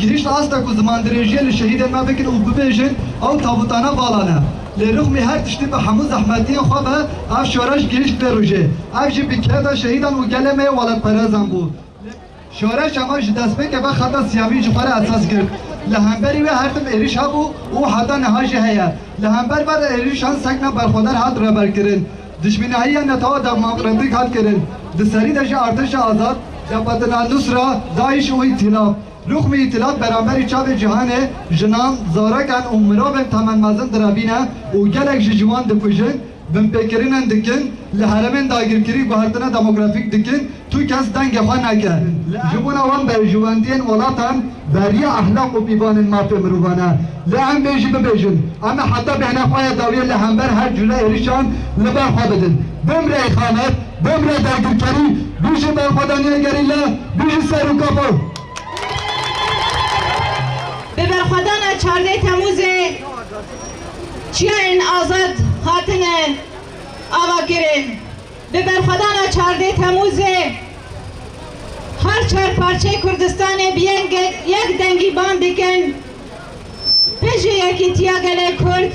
Gihîşt asta ku zimandirêjiyê li şehîdên me bikin û bibêjin ew tabûtane vala ne. Lê rixmî her tiştî bi hemû zehmetiyên xwe be ev şoreş gihîşt vê rojê. Ev jî bi keda şehîdan û gelê me yê welatperezan bû. Şoreşa me ji destpêkê ve xeta siyavî ji xwe re esas girt. Li hemberî wê her tim êrîş hebû û heta niha jî heye. Li hember vê êrîşan sekna berxwedar hat rêberkirin. Dijminahiya netewa Dagmaqremdîg hat kirin, di serî de jî Artêşa Azad, Jebhetin Al-Nusra, Daîş û Îtîlaf. Nuxmî Îtîlaf beramberî çavê cîhanê jinan, zarokan û mirovên temen mezin direbîne û gelek ji ciwan dikujin, binpêkirînên dikin, li heremên dagirkirî guhertina demografîk dikin, Tu kes dengê xwe neke. Li em. Ji bona wan berjwendiyên welatan beriya ehlaq û pîvanên mafê mirovan e. Lê em bê jî bibêjin. Em ê heta bêhna xwe ya dawiyê li hember her cure êrişan li ber xwe bidin. Bimre îxanet, bimre dagirkerî, bijî berxwedaniya gerîla, bijî serûkapo! Bi berxwedana çardeh Temûzê çiyayên azad hatine avakirin. Bi berxwedana çardeh Temûzê her çar parçeyê Kurdistanê bi yek dengî bang dikin, Bijî yekîtiya gelê Kurd,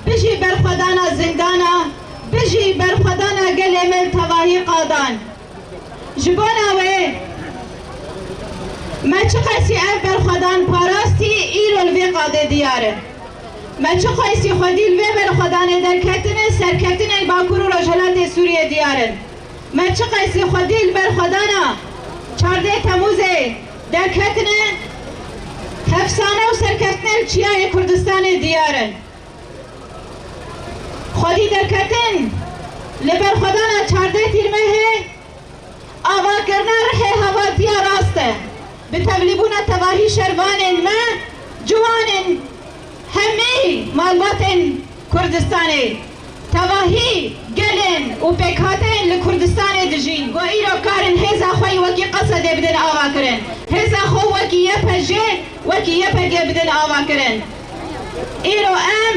bijî berxwedana zindana, bijî berxwedana gelê me li tevahî qadan. Ji bona wê me çiqasî ev berxwedan parastî îro li vê qadê diyar in. Me çi xwestî xwedî li vê berxwedanê derketinê serketinên Bakur û Rojhilatê Sûriyê diyar in. Me çi qestî xwedî li berxwedana çardeh Temûzê derketinê hefsane û serketinên Çiyayê Kurdistanê diyar in. Xwedî derketin li berxwedana çardeh Tîrmehê, Avakirina rihê hevatiya rast e. Bi tevlîbûna tevahî şervanên me, ciwanên hemî malbatên Kurdistanê, tevahî gelên û pêkhateyên li Kurdistanê dijîn ku îro karin hêza xwe yî wekî Qesedê bidin avakirin, hêza xwe wekî YPJê, wekî YPGê bidin avakirin. Îro em.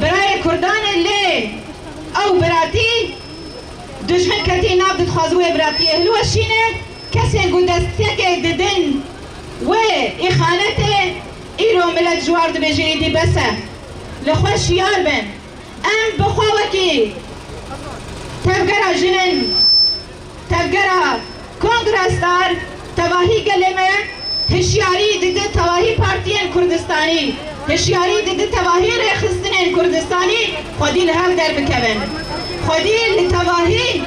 Birayê Kurdan e lê ew biratî dijmin ketî nav didxwaze wê biratiyê hilweşîne. Kesên ku destpêkê didin wê îxanetê îro milet ji war dibêje êdî bes e. Li xwe şiyar bin em bi xwe wekî tevgera jin in. Tevgera Kongresdar tevahî gelê me hişyarî dide tevahî partiyên Kurdistanî, hişyarî dide tevahî rêxistinên Kurdistanî xwedî li hev derbikevin. Xwedî li tevahî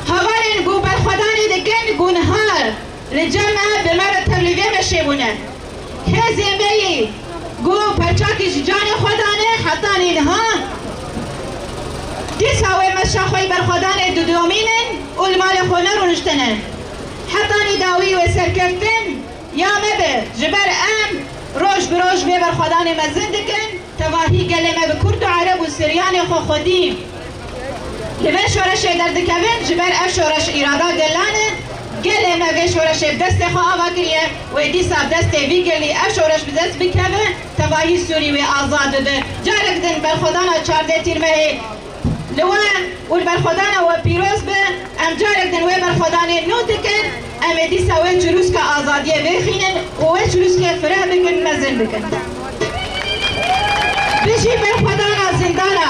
hevalên ku berxwedanê dikin ku niha Li cem me bi me re tev li vê meşê bûne. Hêzê me yî ku perçakî ji canê xwe dane heta nînha, dîsa wê meşa xwe yî berxwedanê didomînin û li malê xwe nerûnişte ne. Heta nîdawî wê serkeftin ya me be, ji ber em roj bi roj vê berxwedanê mezin dikin. Tevahî gelê me bi Kurd û Ereb û Siryanê xwe xwedî li vê şoreşê derdikevin, ji ber ev şoreş îrada gelan e, gelê me vê şoreşê bi destê xwe ava kiriye, wê dîsa bi destê vî gelî ev şoreş bi dest bikeve, tevahî Sûrî wê azad bibe. Carek din berxwedana çardeh Tîrmehê. Li wan û li berxwedana we pîroz be, em carek din wê berxwedanê nû dikin, em ê dîsa wê çirûska azadiyê vêxînin û wê çirûskê fireh bikin, mezin bikin. Bijî berxwedana zindana!